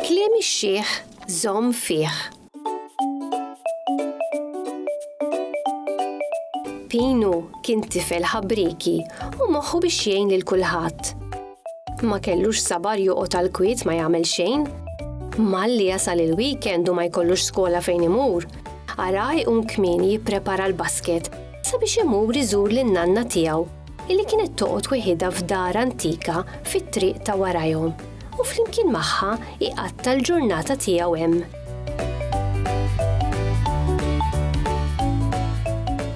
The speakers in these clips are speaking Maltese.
Kliem ix-xiħ żomm fih. Pinu kien tifel ħabrieki u moħħu biex jgħin lil kulħadd. Ma kellux sabar joqgħod għal kwiet ma jagħmel xejn. Malli jasal il-weekend u ma jkollux skola fejn imur. Ara jqum kmieni jipprepara l-basket sabiex imur iżur lin nanna tiegħu illi kienet toqgħod weħidha f'dar antika fit-triq ta' warajhom u flimkien magħha iqatta l-ġurnata tiegħu hemm.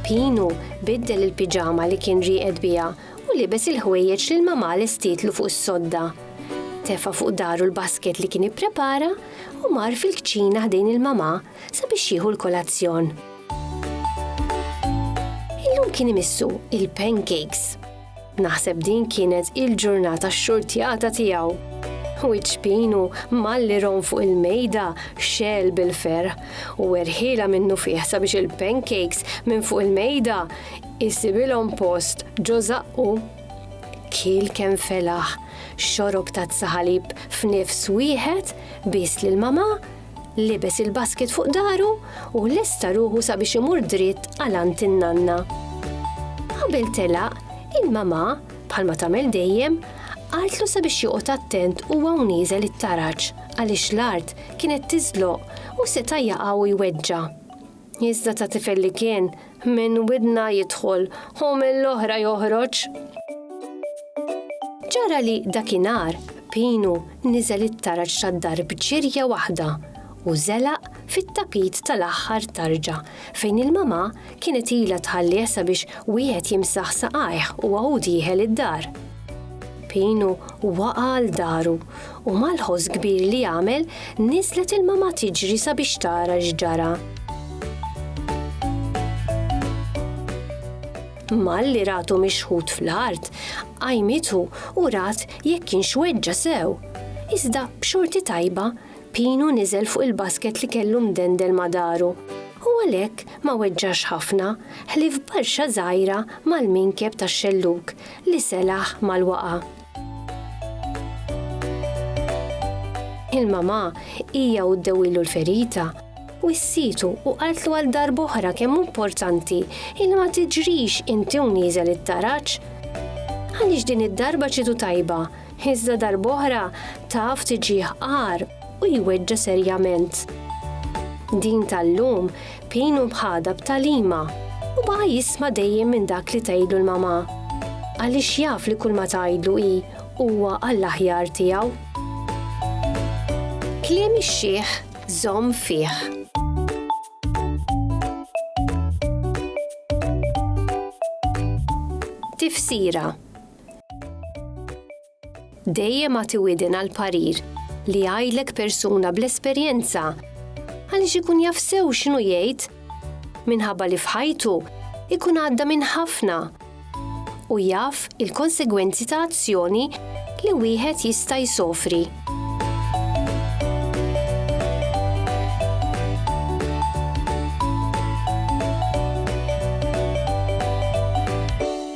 Pinu biddel il-piġama li kien rieqed biha u libes il-ħwejjeġ li l-mamà lestietlu fuq is-sodda. Tefa' fuq dahru l-basket li kien ipprepara u mar fil-kċina ħdejn il-mamà sabiex jieħu l-kolazzjon. Illum kien imissu il-pancakes. Naħseb din kienet il-ġurnata xxurtjata tiegħu. Wiċċ pinu malli rom fuq il-mejda xel bil-ferħ u erħila minnu fih sabiex il-pancakes minn fuq il-mejda Isibilhom post ġo żaqqu. Kiel kemm felaħ, xorob tazza ħalib f'nifs wieħed, bies lil mamà, libes il-basket fuq dahru u lesta ruħu sabiex imur dritt għal għand in-nanna. Qabel telaq, il-mamà, bħalma tagħmel dejjem, qaltlu sabiex joqgħod attent huwa u nieżel it-taraġ għaliex l-art kienet tiżloq u seta' jaqa' u jweġġa'. Iżda ta' tifel li kien, minn widna jidħol u mill-oħra joħroġ. Ġara li dakinhar Pinu niżel it-taraġ tad-dar b'ġirja waħda u żelaq fit-tapit tal-aħħar tarġa fejn il-mamà kienet ilha tħallih sabiex wieħed jimsaħ saqajh u għawud jieħel id-dar. Pinu waqa' għal daru U mal-ħoss kbir li għamel, niżlet il-mama tiġri sabiex tara x'ġara. Malli ratu mixħut fl-art, qajmitu u rat jekk kienx weġġa' sew. Iżda b'xorti tajba, Pinu niżel fuq il-basket li kellu mdendel ma' daru, u għalhekk ma weġġax ħafna, ħlief barxa żgħira mal-minkeb tax-xellug li selaħ mal-waqgħa. Il-mamà hija u ddewilu l-ferita u s-situ u qaltlu għal darb'oħra kemm importanti il ma tiġrix inti u nieżel it-taraġ. Għaliex din id-darba ċitu tajba, iżda darb'oħra taf tiġih qar u jweġġa' serjament. Din tal-lum Pin hu bħadha b'tagħlima u baqa' jisma' dejjem minn dak li tgħidlu l-mamà, għaliex jaf li kulma tgħidlu hi huwa għall-aħjar tiegħu. Kliem ix-xiħ żomm fih. Tifsira. Dejjem agħti widen għal parir li jgħidlek persuna bl-esperjenza għaliex ikun jaf sew x'inhu jgħid minħabba li f'ħajtu ikun għadda minn ħafna u jaf il-konsegwenzi ta' azzjoni li wieħed jista' jsofri.